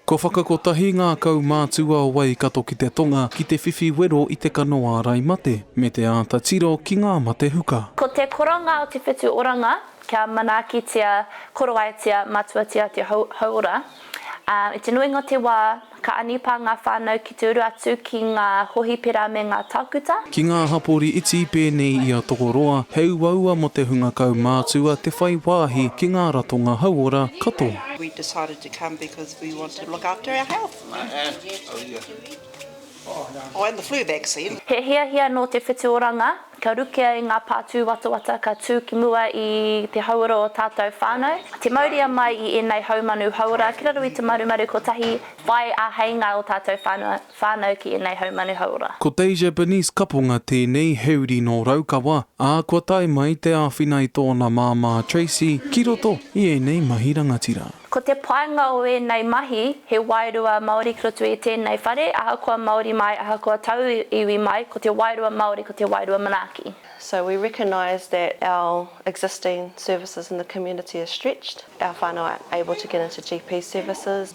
Kua whakakotahi ngā kaumātua o Waikato ki te tonga ki te whiwhi wero i te kano ārai mate me te āta tiro ki ngā mate huka. Ko te koronga o te whitu oranga kia manaakitia, koroaetia, matuatia te hauora. I te nuinga o te wā, ka anipā ngā whānau ki te uru atu ki ngā hōhipera me ngā tākuta. Ki ngā hapori iti pēnei i a Tokoroa, he uaua mō te hunga kaumātua te whai wāhi ki ngā ratonga hauora katoa. To come because we want to look after our health. Oh, and the flu vaccine. He hiahia nō te whitu oranga, ka rukea i ngā pātū watawata ka tū ki mua i te hauora o tātou whānau. Te mauria mai i ēnei haumanu hauora ki raro i te marumaru kotahi whai āheinga o tātou whānau. whānau ki ēnei haumanu hauora. Ko Te Japanese kaponga tēnei he uri nō Raukawa, ā, kua tae mai te āwhina i tōna māmā Tracy ki roto i ēnei mahi rangatira. Ko te painga o ēnei mahi, he wairua Māori ki roto i tēnei whare, ahakoa Māori mai, ahakoa taua iwi mai, ko te wairua Māori ko te wairua manaaki. So we recognise that our existing services in the community are stretched, our whānau aren't able to get into GP services,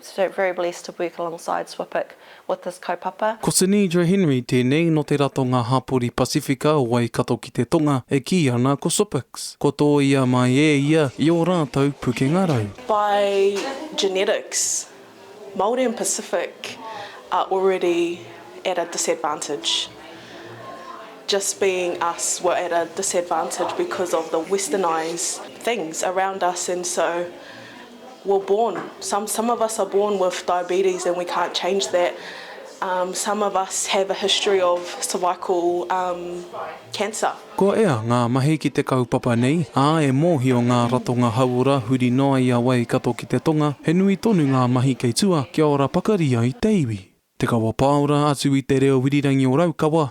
So very blessed to work alongside SWPIC with this kaupapa. Ko Sinidra Henry tēnei nō te ratonga hapori Pasifika o Waikato ki te Tonga e kī ana ko SWPIC kua tōia mai e ia i ō rātou pukenga rau. By genetics, Māori and Pacific are already at a disadvantage. Just being us we're at a disadvantage because of the westernised things around us and so were born some some of us are born with diabetes and we can't change that um some of us have a history of cervical um cancer. Kua ea ngā mahi ki te kaupapa nei, ā, e mōhio ngā ratonga hauora huri noa i a Waikato ki te tonga, he nui tonu ngā mahi kei tua kia ora pakari ai te iwi. Te kawa pāora atu i te reo irirangi o Raukawa,